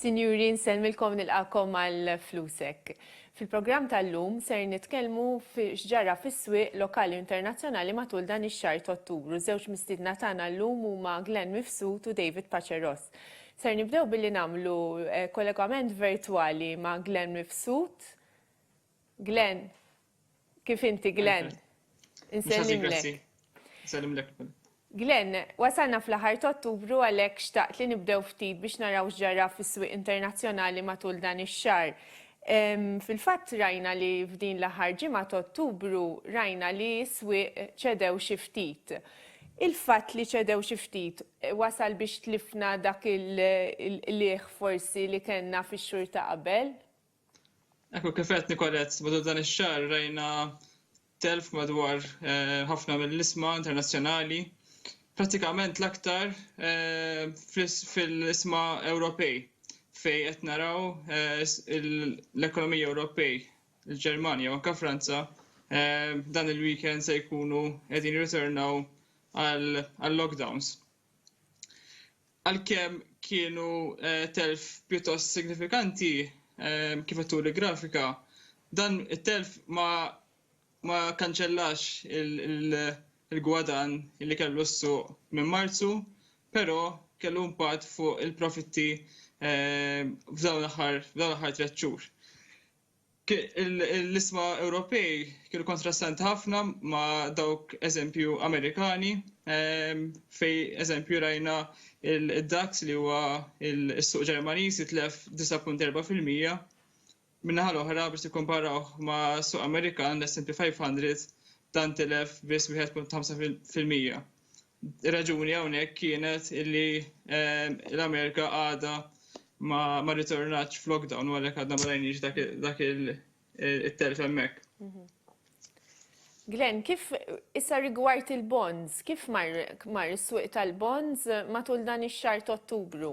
Sinjuri, nsellmilkom nilqagħkom għal Flusek. Fil-programm tal-lum ser nitkellmu fi x'ġara fis-swieq lokali u internazzjonali matul dan ix-xahar t'Ottubru. Żewġ mistiedna tagħna llum huma Glenn Mifsud u David Paceros. Ser nibdew billi nagħmlu eh, kollegament virtwali ma' Glenn Mifsud. Glenn. Kif inti, Glenn? Insellimlek. Insellimlek. Glenn, wasalna fl-aħħar ta' Ottubru għalhekk xtaqt li nibdew ftit biex naraw x'ġara fis-swieq internazzjonali matul dan ix-xahar. Fil-fatt rajna li f'din l-aħħar ġimgħa ta' Ottubru rajna li s-swieq ċedew xi ftit. Il-fatt li ċedew xi ftit wasal biex tlifna dak il-qligħ forsi li kellna fix-xhur ta' qabel? Ekku kif għedt Nicolette, matul dan ix-xahar rajna telf madwar ħafna mill-isma internazzjonali, prattikament l-aktar fl-isma Ewropej fejn qed naraw l-ekonomiji Ewropej, il-Ġermanja u anke Franza, dan il-weekend se jkunu qegħdin jirritornaw għal-lockdowns. Għalkemm kienu telf pjuttost signifikanti, kif qed turi l-grafika, dan it-telf ma ma kkanċellax il-gwadann li kellu s-suq minn Marzu, però kellu impatt fuq il-profitti f'dawn l-aħħar tliet xhur. L-isma Ewropej kienu kontrastanti ħafna ma' dawk eżempju Amerikani fej eżempju rajna il-DAX li huwa il-suq Ġermaniż jitlef 9.4 fil-mija. Min-naħa l-oħra biex tikkomparaw ma' suq Amerikan l-S&P 500 dan tilef biss 1.5 fil-mija. Ir-raġuni hawnhekk kienet li l-Amerika għadha ma rritornatx f'lockdown u għalhekk għadna ma rajniex dak it-telf hemmhekk. Mhm. Glenn, kif issa rigward il-bonds, kif mar is-swieq tal-bonds matul dan ix-xahar t'Ottubru?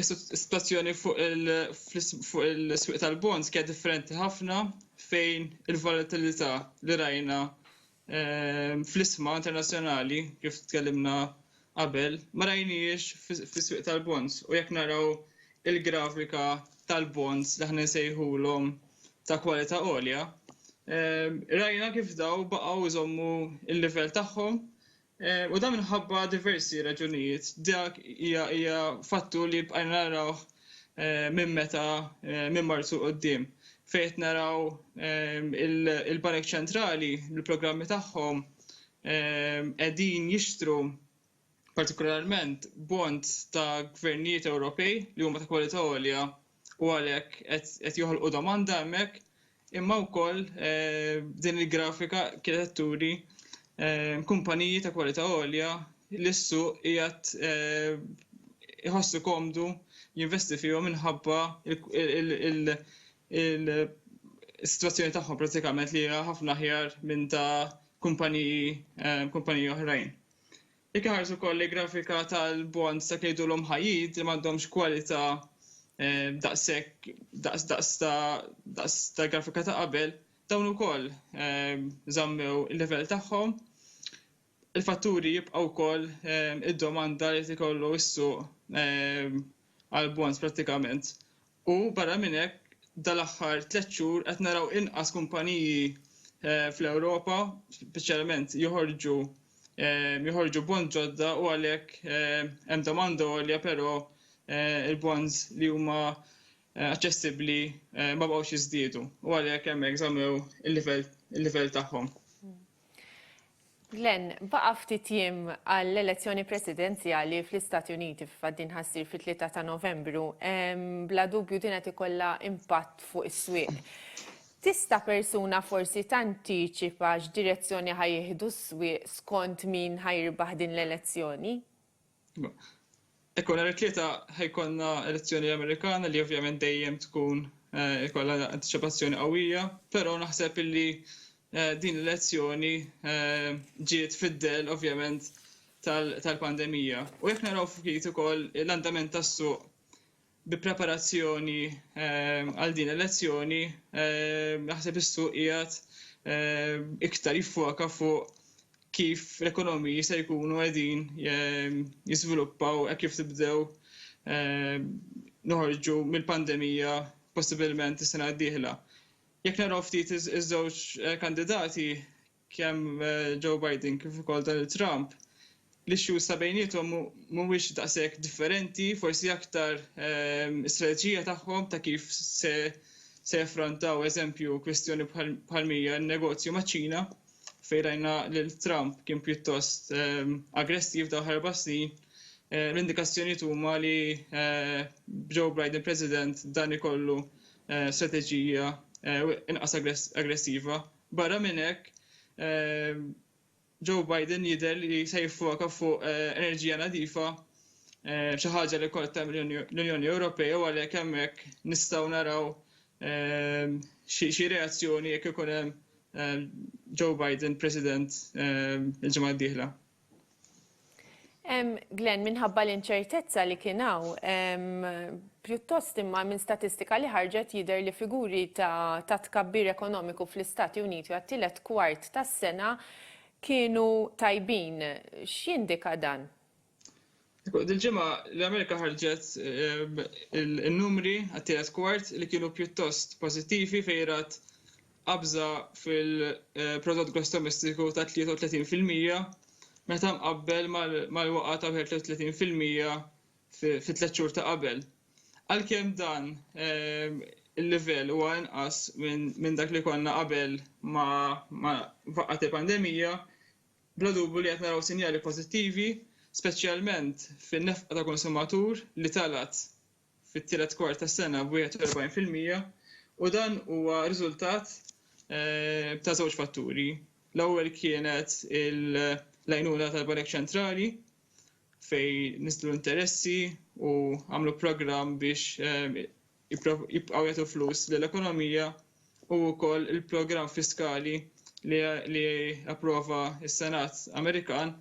Is-sitwazzjoni fuq il-swieq tal-bonds kienet differenti ħafna fejn il-volatilità li rajna ehm, fl-isma internazzjonali kif tkellimna qabel ma rajniex fis-swieq tal-bonds u jekk naraw il-grafika tal-bonds li aħna nsejħulhom ta' kwalità għolja ehm, rajna kif daw baqgħu jżommu l-livell tagħhom U dan minħabba diversi raġunijiet. Dak hija hija fattur li bqajna narawh minn meta minn Marzu quddiem fejn qed naraw il-banek ċentrali l-programmi tagħhom qegħdin jixtru partikolarment bonds ta' gvernijiet Ewropej li huma ta' kwalità għolja u għalhekk qed joħolqu domanda hemmhekk Imma wkoll din il-grafika kienet qed turi kumpaniji ta' kwalità għolja li s-suq qiegħed iħossu komdu jinvesti fihom minħabba l-sitwazzjoni tagħhom prattikament li hija ħafna aħjar minn ta' kumpaniji oħrajn. Jekk iħarsu wkoll lejn grafika tal-bonds dak li jgħidulhom high yield li m'għandhomx kwalità daqshekk daqs daqs ta' daqs tal-grafika ta' qabel, dawn ukoll żammew il-livell tagħhom. Il-fatturi jibqgħu wkoll id-domanda li qed ikollu s-suq għall-bonds prattikament U barra minn hekk, dal-aħħar tliet xhur qed naraw inqas kumpaniji fl-Ewropa speċjalment joħorġu joħorġu bonds ġodda u għalhekk hemm domanda għolja però l-bonds li huma aċċessibbli ma baqgħux jiżdiedu u għalhekk hemmhekk żammew il-livell il-livell tagħhom. Glenn, baqa' ftit jiem għall-elezzjoni presidenzjali fl-Istati Uniti f'Faddin ħassir fit-3 ta' Novembru. Bla dubju din qed ikollha impatt fuq is-swieq. Tista' persuna forsi tantiċipa x'direzzjoni ħajjieħdu s-swieq skont min ħajirbaħ din l-elezzjoni? Ekku nhar it-Tlieta ħajkonna elezzjoni Amerikana li ovvjament dejjem tkun eh, ikollha antiċipazzjoni qawwija, però naħseb illi eh, din l-elezzjoni eh, ġiet fid-dell ovvjament tal-pandemija. U jekk naraw ftit ukoll l-andament tas-suq Bi preparazzjoni għal din il-lezzjoni, naħseb is-suq qiegħed iktar jiffoka fuq kif l-ekonomiji se jkunu qegħdin jiżviluppaw hekk kif nibdew noħorġu mill-pandemija possibilment is-sena d-dieħla. Jekk naraw ftit iż-żewġ kandidati, kemm Joe Biden kif ukoll Donald Trump, l-issues ta' bejniethom mhumiex daqshekk differenti, forsi aktar is-strateġija tagħhom ta' kif se se jaffrontaw eżempju kwistjoni bħal mija n-negozju maċ-Ċina fejn rajna lil Trump kien pjuttost aggressiv dawn l-erba' snin, l-indikazzjonijiet huma li b'Joe Biden President dan ikollu strateġija inqas aggressiva. Barra minn hekk, Joe Biden jidher li se jiffoka fuq enerġija nadifa, xi ħaġa li wkoll qed tagħmel l-Unjoni Ewropea u għalhekk hemmhekk nistgħu naraw xi reazzjoni jekk ikun hemm Joe Biden President il-ġimgħa d-dieħla. Glenn, minħabba l-inċertezza li kien hawn, pjuttost imma minn statistika li ħarġet jidher li figuri ta' tkabbir ekonomiku fl-Istati Uniti għat-tielet kwart tas-sena kienu tajbin. X'jindika dan? Dil-ġimgħa l-Amerika ħarġet in-numri għat-tielet kwart li kienu pjuttost pożittivi fejn rat qabża fil-Prodott Gross Domestiku ta' 33 fil-mija meta mqabbel mal-waqgħa ta' 31 fil-mija fit-tliet xhur ta' qabel. Għalkemm dan il-livell huwa inqas minn dak li konna qabel ma faqqgħet il-pandemija, Bla dubju li qed naraw sinjali pożittivi, speċjalment fin-nefqa ta' konsumatur li talgħet fit-tielet kwart tas-sena b'wieħed u erbgħin fil-mija u dan huwa riżultat ta' żewġ fatturi. L-ewwel kienet l-għajnuna tal-Banek Ċentrali fejn niżlu l-interessi u għamlu programm biex jibqgħu jagħtu flus lill-ekonomija u wkoll il-programm fiskali li approva s-Senat Amerikan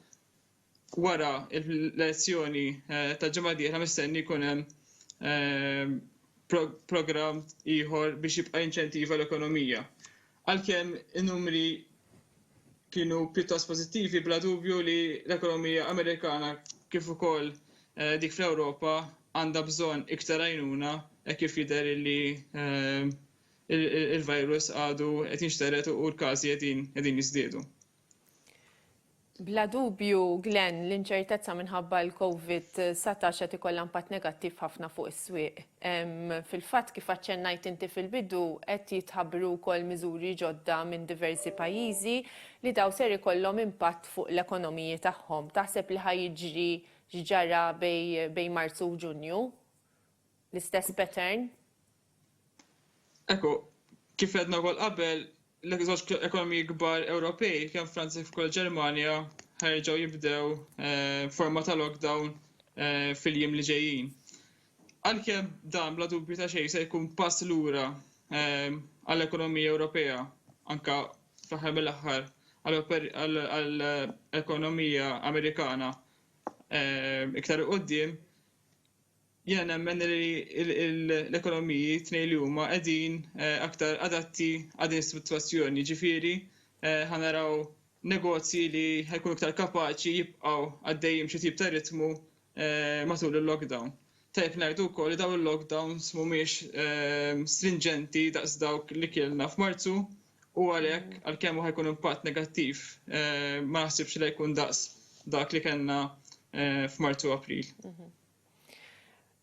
wara l-elezzjoni tal-ġimgħa d-dieħla mistenni jkun hemm programm ieħor biex jibqa' jinċentiva l-ekonomija. Għalkemm in-numri kienu pjuttost pożittivi, bla dubju li l-ekonomija Amerikana kif ukoll dik fl-Ewropa għandha bżonn iktar għajnuna hekk kif jidher li l-virus għadu qed jinxtered u l-każi qegħdin jiżdiedu. Bla dubju, Glenn, l-inċertezza minħabba l-COVID-19 qed ikollha impatt negattiv ħafna fuq is-swieq. Fil-fatt, kif aċċennajt inti fil-bidu, qed jitħabbru wkoll miżuri ġodda minn diversi pajjiżi li dawn ser ikollhom impatt fuq l-ekonomiji tagħhom. Taħseb li ħa jiġri x'ġara bejn Marzu u Ġunju? L-istess pattern? Ekku, kif għedna wkoll qabel, l-żewġ ekonomiji kbar Ewropej, kemm Franza kif ukoll Ġermanja, ħerġgħu jibdew eh, forma ta' lockdown eh, fil-jiem li ġejjin. Għalkemm dan bla dubju ta' xejn se jkun pass lura eh, għall-ekonomija Ewropea, anka fl-aħħar mill-aħħar għall-ekonomija Amerikana iktar qudiem, Jiena nemmen li l-ekonomiji t-tnejn li huma qegħdin aktar adatti għal din is-sitwazzjoni, jiġifieri ħa naraw negozji li ħa jkunu iktar kapaċi jibqgħu għaddejjin b'xi tip ta' ritmu matul il-lockdown. Tajjeb ngħidu wkoll li dawn il-lockdowns mhumiex strinġenti daqs dawk li kellna f'Marzu. U għalhekk, għalkemm hu ħajkun impatt negattiv, eh, ma naħsibx li jkun daqs dak li kellna eh, f'Marzu April. Mhm.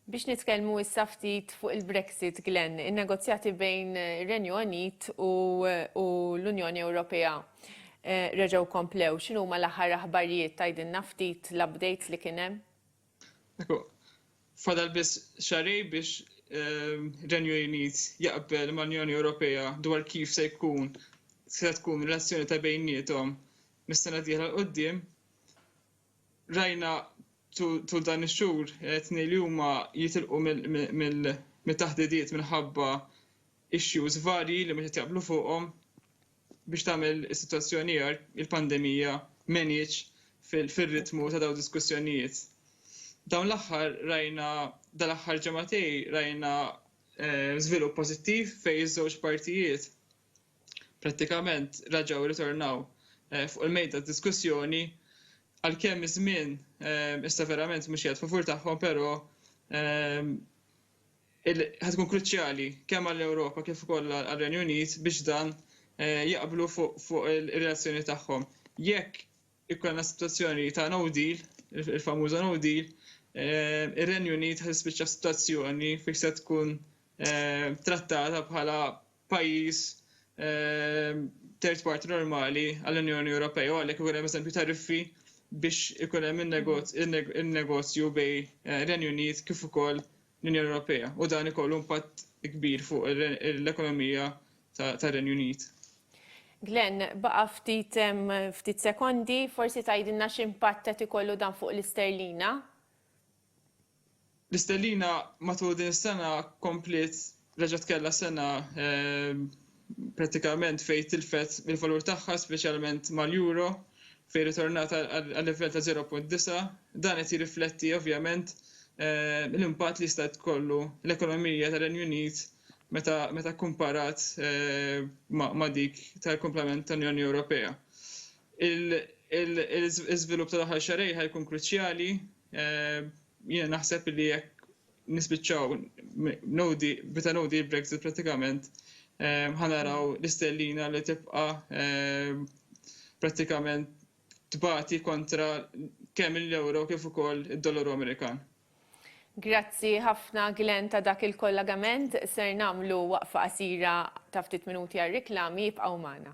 Biex nitkellmu issa ftit fuq il-Brexit, Glenn, in-negozjati bejn Renju Unit u, u l-Unjoni Ewropea eh, reġgħu komplew. X'inhuma l-aħħar aħbarijiet tgħidilna ftit l-updates li kien hemm? Ekku, fadal biss xahrejn biex ir-Renju Unit jaqbel mal-Unjoni Ewropea dwar kif se jkun, se tkun ir-relazzjoni ta' bejniethom mis-sena d-dieħla 'l quddiem. Rajna tul dan ix-xhur etni li huma jitilqu mit-taħdidiet minħabba issues varji li mhux qed jaqblu fuqhom. Biex tagħmel is-sitwazzjoni agħar, il-pandemija m'għenitx fir-ritmu ta' dawn id-diskussjonijiet. Dawn l-aħħar rajna dal-aħħar ġematej rajna eh, żvilupp pożittiv fejn iż-żewġ partijiet prattikament raġgħu ritornaw eh, fuq il-mejda diskussjoni għalkemm iż-żmien eh, issa verament mhux qiegħed favur tagħhom però Ħa tkun kruċjali kemm għall-Ewropa kif ukoll għar-Renju Unit biex dan jaqblu fuq ir-relazzjoni tagħhom. Jekk ikollna sitwazzjoni ta' no deal, il-famuża no deal, ir-Renju Unit ħa tispiċċa f'sitwazzjoni fejn se tkun trattata bħala pajjiż third party normali għall-Unjoni Ewropea u għalhekk ikun hemm eżempju tariffi biex ikun hemm in-negozju bejn ir-Renju Unit kif ukoll l-Unjoni Ewropea u dan ikollu impatt kbir fuq l-ekonomija tar-Renju Unit. Glenn, baqa' ftit ftit sekondi, forsi tgħidilna x'impatt qed ikollu dan fuq l-isterlina? L-isterlina matul din is-sena kompliet reġgħet kellha sena prattikament fejn tilfet mill-valur tagħha speċjalment mal-euro fejn ritornat għal-livell ta' 0.9. Dan qed jirrifletti ovvjament l-impatt li jista' tkollu l-ekonomija tar-Renju Unit meta kkumparat ma' dik tal-kumplament tal-Unjoni Ewropea. L-iżvilupp tal-aħħar xahrejn ħa jkun kruċjali. Jiena naħseb li jekk nispiċċaw nodi bita nodi Brexit pratikament ehm, ħanaraw l-istellina li tibqa ehm, pratikament tbati kontra kemm l-euro kif ukoll id-dollaru Amerikan. Grazzi ħafna Glenn ta' dak il-kollagament ser namlu waqfa qasira ta' ftit minuti għal riklami jibqgħu magħna.